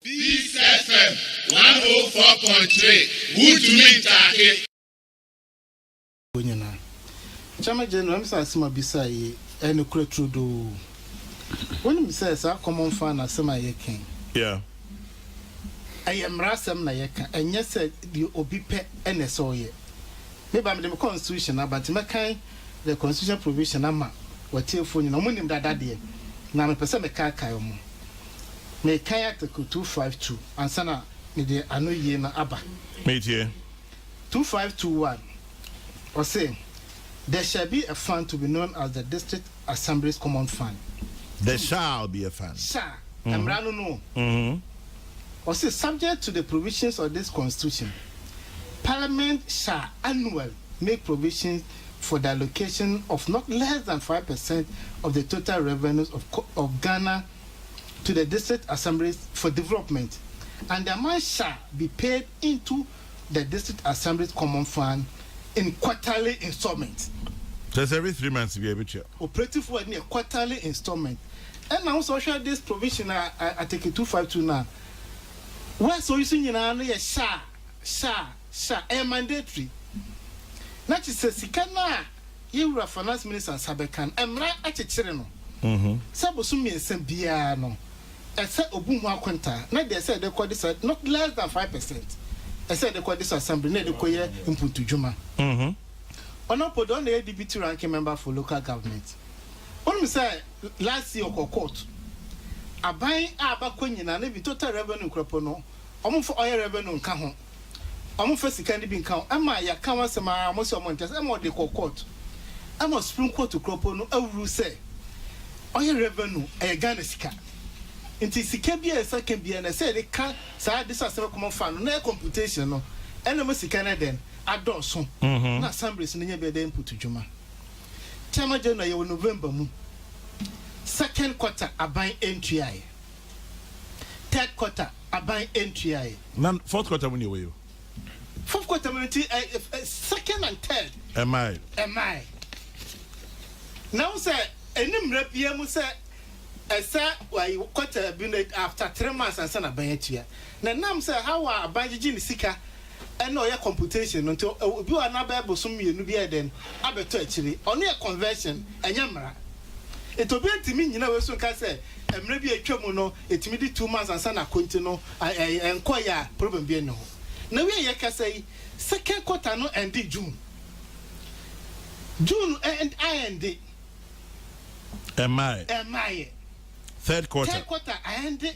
Peace FM one oh four point three wuntumi ntaake. Wo nyina Chama General me sɛ asem a obisaa yi ɛyɛ nokorɛ turodoo wo nim sɛ saa common fund no asem a yɛ kɛn ɛyɛ mmara asem na yɛ ka ɛnyɛ sɛ deɛ obi pɛ ɛna ɛsɛ ɔyɛ me ba mede me constitution aba nti mɛkan the constitutional provision ama w'atiefoɔ nyinaa, wɔn nim dada deɛ, na mepɛ sɛ mekaakae wɔn. Mekae Article two five two ansa na mede ano yie no aba. Metie. Two five two one, ɔse, There shall be a fund to be known as the District Assembly's Common Fund. There shall be a fund. Shall, mmara no no o. Ɔse, Subject to the provisions of this Constitution, Parliament shall annually. make provision for the allocation of not less than five percent of the total revenues of of Ghana to the district assemblies for development, and the amount shall be paid into the district assemblies common fund in quarterly instalments. Kyerɛ sɛ every three months biara yɛbɛtua. Operative word no yɛ quarterly instalment. Ɛna wo sɛ wohwɛ this provision a Article two five two no a, words a ɔyi so nyinaa no yɛ shall, shall. Sha ɛyɛ mandatory na kyesɛ sika no a yɛ wura finance minister nsa bɛka no mmra akyekyere no sɛ bosom mmiɛnsa biara no ɛsɛ obu ho akontaa na deɛ ɛsɛ ɛde kɔ de sa not less than five percent ɛsɛ ɛde kɔ de sa assembly na ɛde kɔ yɛ mpuntu dwuma ɔno mpo deɛ ɔno na ɛyɛ deputy ranking member for local government wonim sɛ last year ɔkɔ court aban a bakɔ nyina na bi total revenue nkorɔpo no ɔmo nfa ɔyɛ revenue nka ho. wɔmfa sika no bi nka ho ma yɛaka ho asɛm ara mo sɛ wɔnte ase ma wɔde kɔɔ court ma supreme court kura po no awuruw sɛ ɔyɛ revenue ɛyɛ Ghana sika nti sika biara a yɛsan ka biara no ɛsɛ yɛde ka saa ade sɛ asɛm no common fund no na ɛyɛ computation no ɛna ɛma sika no ɛdɛn adɔɔso na assemblies no nya bi ɛde input dwuma Tema January yɛwɔ November mu second quarter aban ɛntuaeɛ. Third quarter aban ntuae. Na fourth quarter mu ne ɛwɔ yi o. Fourth quarter mu no ti ɛ eh, ɛ eh, second and third. Ɛmae. Ɛmae. Na wo sɛ ɛni mmerɛ bia mu sɛ ɛsɛ wayi quarter bi no after three months ansa na aban atua. Na nam sɛ how a aban gyegye ne sika ɛna ɔyɛ computation no nti obi wɔ hɔ a n'abɛyɛ bosom mmienu bi ayɛ dɛn abɛtɔ akyire ɔno yɛ conversion ɛnyɛ mmara nti obiara ntumi nnyina wei so nka sɛ mmerɛ bi atwa mu no ɛtumi di two months ansa na akɔ nti no ɛnkɔ yɛ a problem bi ɛnni hɔ na wei a yɛkasa yi second quarter no ɛnde June June ɛnd a ɛnde ɛmmaeɛ ɛmmaeɛ third quarter third quarter a ɛnde.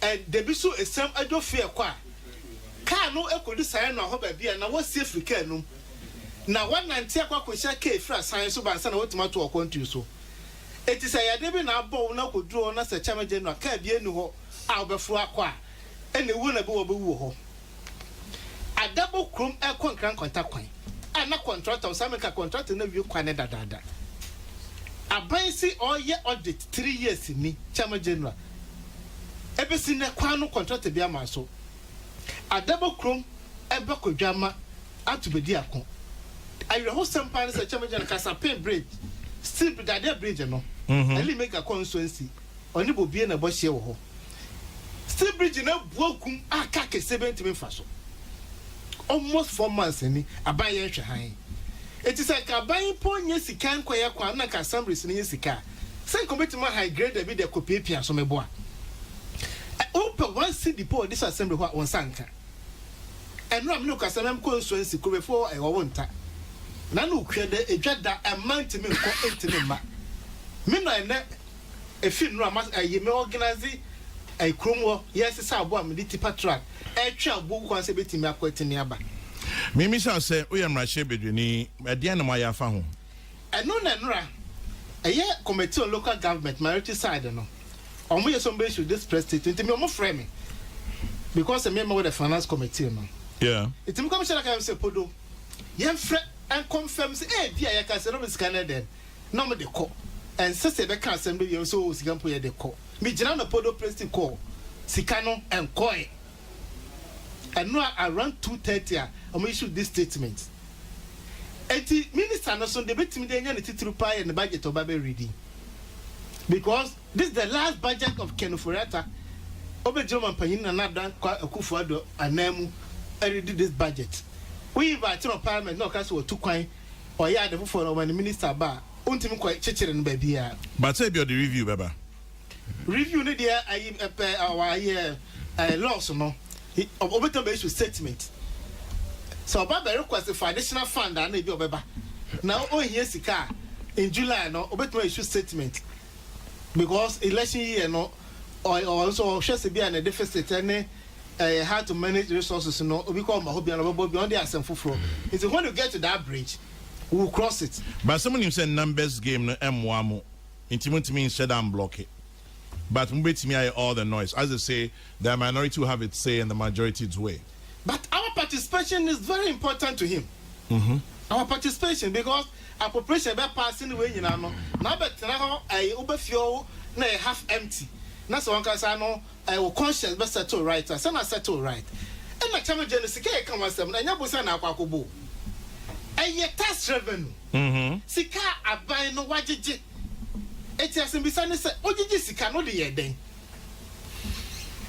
Ɛ, da bi so esiam adwo fi ɛkɔ a kaa no kodu Sayanoa hɔ baabi a na wɔasi afiri kaa anum, na wɔanante akɔ akohyia kaa afiri asan so ba ansa na wɔatumi ato ɔkwantun so. Enti sɛ yadeɛ bi na abɔ wo na wokɔduru hɔ na sɛ kyɛmɛgyɛ no a kaa biara nni hɔ a wobɛforo akɔ a, ɛnna ɛwuo na bi wɔ a wobɛwu wɔ hɔ. Adabo kurom rekɔ Nkran Kwanta kwan a na kɔntrata ɔsan bɛka kɔntrata no awie kwan no dadaada. Aban si ɔreyɛ audit three years ni, Chairman General. Ɛbɛsi nnɛ kwan no kɔntrata biara mmaa so. Adabo kurom bɛkɔ Dwamma ato bɛdi ako. Awerɛhosɛm paa ne sɛ Chairman General Kasapen Bridge, Steel Bridge, Dadeɛ Bridge no, Ellie Mega kɔ nso ansi. Ɔne Bobie na ɛbɔ hyeɛ wɔ hɔ. Steel bridge no abua kum a car kɛseɛ bɛn ntumi mfa so. Almost four months ni aban yɛ nhwɛ hann. Eti sɛ nka aban mpo nyɛ sika nkɔ yɛ kwan na nka assemblies no nyɛ sika a, sɛ nka wɔbɛtumi a hire grader bi de akɔ piapia so mɛboa. Ɛ, wo pɛ one cedi po wɔ this assembly hɔ a wo nsa nka. Ɛnora me ne wo kasa mɛ mkɔ nsuo nsi kurobefoɔ wɔ ɛwɔ wo nta. Nana okuada edwa da ɛmma ntumi nkɔ ntumi mma. Me na ɛnɛ. Efi nnuro a mas ɛyi me ɔgenase ɛyi kurom hɔ yɛ sesa abo a mede tipa trak ɛtwe abo kwan sɛ ebetumi akɔ atumi aba. Mimisa wo sɛ, woyɛ mmarahyɛ bedwani, ɛdeɛn na moayɛ afa ho? Ɛno na nnora ɛyɛ committee on local government minority side no ɔmo yɛ somebody should this press state nti me ɔmo frɛ me because sɛ me ma wɔ the finance committee no Yeah. nti me commissioner ka yɛm sɛ podo yɛn frɛ ɛnkɔ nfɛm sɛ ebi a yɛka sɛ no me sika no ɛdɛn na ɔmo de kɔ. Ɛnsɛ sɛ ɛbɛka asɛm no wie sɛ oo sika mpo yɛde kɔ. Me gyina na Podo Plestic kɔɔ sika no ɛnkɔɛ. Ɛno a around two thirty a ɔmo issue this statement. Ɛnti minister no so deɛ bɛtumi de anya ne titiriw paa yɛ ne budget ɔba bɛ reading. Because this is the last budget of Ken Ofori Atta ɔbɛgyina ɔmampanin Nana Adda Kwa Akufo Addo anan mu ɛredi this budget. Wo invite no wɔ parliament na ɔka sɛ watu kwan Ɔyɛ ade foforɔ no ɔma ne minister ba a ɔntumi nkɔ kyekyere no baabiara. But sɛ ebia ɔde review bɛba. Review no deɛ ayi pɛ wayɛ ɛɛ laws no ɔbɛtumi bɛ issue statement sɛ ɔba bɛ request for additional fund a na ebi ɔbɛba na ɔhia sika a in July no ɔbɛtumi issue statement because election year no ɔyɛ ɔnso ɔhwɛ sɛ bi a na deficit ɛne ɛyɛ hard to manage resources no obi kɔ ɔma hɔ bia na ɔbɛbɔ bia ɔno deɛ asɛm foforɔ nti when you get to that bridge we will cross it. But sɛ monim sɛ numbers game no mmoa mo nti montumi nhyɛ da mblɔke but mobɛtumi ayɛ all the noise as they say the minority will have its say and the majority dzwe. But our participation is very important to him our participation because appropriation bɛ pass ne wei nyinaa no na abɛtena hɔ ɛyɛ wobɛfie hɔ na ɛyɛ half empty na sɛ wɔn kasa no Eh wo conscience bɛ settle right a, sɛ na settle right. Ɛna kyɛ no gye no sika a yɛka ho asɛm no, ɛnyɛ bosan na akɔ akɔbɔ o. Ɛyɛ tax revenue, sika a aban no wagyegye. Enti asɛmbisa ne sɛ, wogyegye sika no wode yɛ dɛn?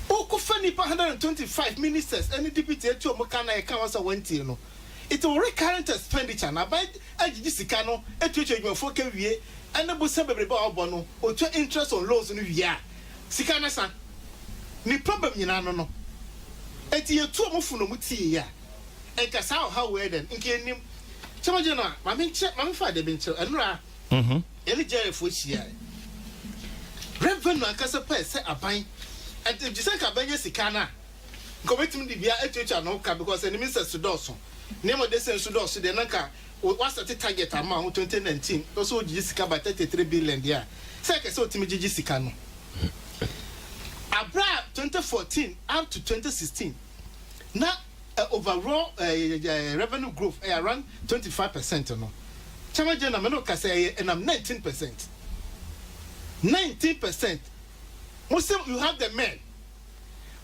Wokɔ fa nnipa one hundred and twenty five ministers ne deputy atu wɔn ka na yɛka ho asɛm a wɔantie no. Enti wo recurrent expenditure no aban agyegye sika no atuatua adwumafoɔ ka wie ne bosan bebrebe a wɔbɔ no, wɔtua interest on loans no wie a, Sika ne sa, ne pabam nyinaa no no. Enti yɛtuo mo fo no mo tii yɛ a, nka saa ɔhaw wei dɛn, nka yɛnnim. Sɛ mogye no a, ma menkyɛ, ma memfa ade bi nkyerɛ. Ɛnora yɛne Jairefoɔ hyiaɛ. Revenue ankasa pɛɛ sɛ aban de, gye sɛ nka aban nya sika no a, nka ɔbɛtumi de biribiara atuatua ne ho ka, because ɛnim nsɛso dɔɔso, nneɛma ɔde sɛn nso dɔɔso deɛ, na nka O wasɛte target ama wo ho twenty nineteen ɔsɛ ogyigye sika ba thirty three billion deɛ a sɛ ɛkɛ sɛ otumi gyigye sika no aberɛ a twenty fourteen up to twenty sixteen na ɛ overall ɛɛ ɛ revenue growth ɛyɛ around twenty five percent no kyɛma gyɛ na mɛ no kasa ɛyɛ ɛnam nineteen percent nineteen percent mo sɛ you have the men.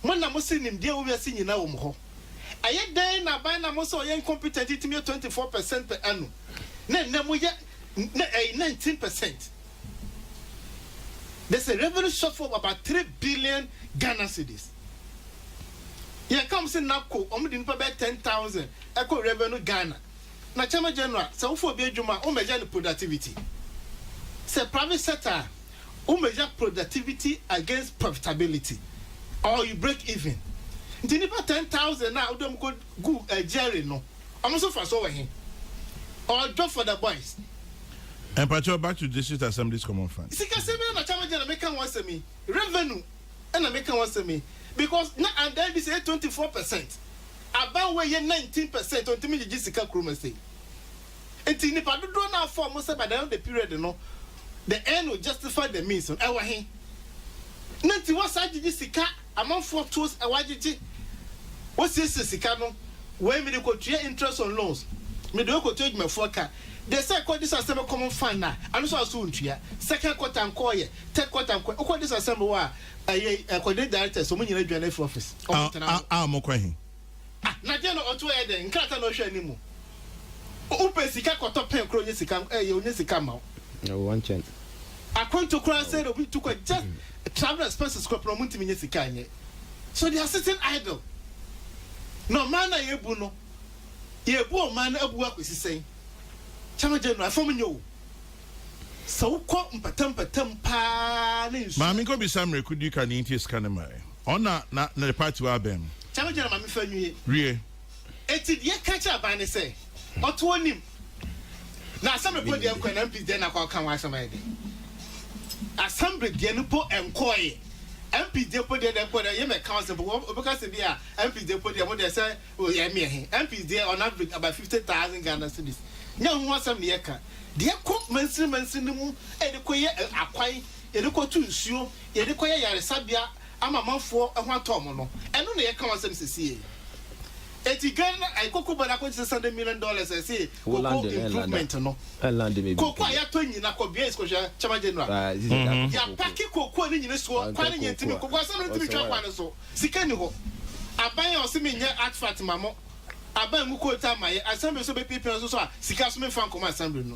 Mo na mose nimdeɛ wɔ wiase nyinaa wɔ mo hɔ. Ɛyɛ dɛn na aban na mose ɔyɛ incompetent yi tumi yɛ twenty four percent per annum na ɛnnɛ moyɛ na ɛyi nineteen percent? There's a revenue shortfall of about three billion Ghana cedis. Yɛn ka wɔn se NABCO wɔn de nipa bɛyɛ ten thousand ɛkɔ revenue Ghana na Chairman General sɛ wofa obi adwuma a wo measure ne productivity sɛ private sector a wo measure productivity against profitability or you break even. Nti nipa ten thousand a wode ɔmo kɔ gu Jerry no, ɔmo nso fa so wɔ he? Or job for the boys? Mpakyɛw back to district assemblies common fund. Sikasɛm yi na Chairman General meka ho asɛm yi, revenue na meka ho asɛm yi because na under NDC ɛyɛ twenty four percent, aban wei yɛ nineteen percent, ɔntumi ngyegye sika kurom ha sei. Enti nnipa dodoɔ no a wɔfaa wɔn sɛ by the end of the period no, the end will justify the means no, ɛwɔ he? Na nti wɔasan gyegye sika, amanfoɔ tools a wɔagyegye, wɔasiesie sika no, wei mede kɔtua interest on loans, mede wei kɔtua adwumafoɔ ka, deɛ sɛ ɛkɔ this assembly common fund a, ɛno nso aso wontua, second quarter nkɔɔ yɛ, third quarter nkɔɔ yɛ, wokɔ this assembly hɔ a, ɛyɛ coordinate directors, wɔn nyinaa dwane afiri office, wɔn ntena hɔ. A, a, a, mokɔ he? Ah na deɛ no ɔtoɔ yɛ dɛn nkrataa na ɔhwɛ anim mo wo pɛ sika kɔtɔ pɛn kora ɔnyɛ sika ɛyɛ ɔnyɛ sika ma wo. Ɛwɔ wɔn nkyɛn. Akwantu kora sɛ na obi tu kɔ just travel expenses kora pɛn ɔmo ntumi nyɛ sika nyɛ so they are sitting idle na ɔman no a yɛbu no yɛbu ɔman no abu akosi sɛn Chairman General ɛfam nyɛ o sɛ wokɔ mpatampatam paa ne nsuo Maame nkɔ bisa mmerɛko duka nea nti a sika no mmaɛ. Ɔna na na ne party wa bɛn. Kyalo gyina ma me fa nwie. Wie. Eti deɛ yɛka kyerɛ aban ne sɛ ɔto onim na assembly mpo deɛ nkɔɛ na MPs deɛ na akɔ ka ho asɛm ayɛ dɛ assembly deɛ no mpo nkɔɛ MPs deɛ mpo deɛ na ɛkɔ dɛ yɛ mɛ council mpo wɔ ɔbɛka sɛ bi a MPs deɛ mpo deɛ mo deɛ sɛ oyɛ ɛmi ɛhe MPs deɛ on average about fifty thousand Ghana cedis nyɛ ho asɛm ne yɛka deɛ kɔ mansini mansini mu ɛde kɔ yɛ akwan yɛde kɔtu nsuo, yɛde kɔyɛ yaresabea ama amanfoɔ ho atɔ wɔn no, ɛno na yɛka ho asɛm sesie. Enti Ghana ayi cocoa board akɔgye six hundred million dollars a ɛsɛ cocoa improvement no. Cocoa a yɛatɔ nyina kɔ bea yɛsikɔhwɛ Chairman General. Yɛapake cocoa no nyina suo kwan no nyɛntimi cocoa asɛm no ntimi ntwa kwan no so. Sika nni hɔ. Aban a ɔse menyɛ artefact ma mo, aban mu coat a mayɛ, assembly so bɛpiapia nso so a sika so memfa nkɔma assembly no.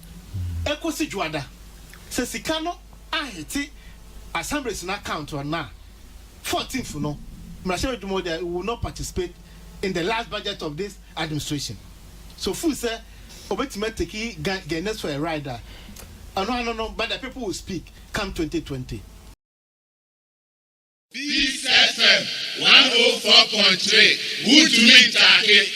ekosi Dwoada, sɛ sika no ahete Assemblies no account no a, fourteenth no, mmarahyɛbadwuma wɔ dɛ, we will not participate in the last budget of this administration. So feel sɛ obetumi ateki Gan Ghanaians for a ride a, ɛno ano no, but the people will speak come twenty twenty. Peace FM one oh four point three, wuntumi ntaake.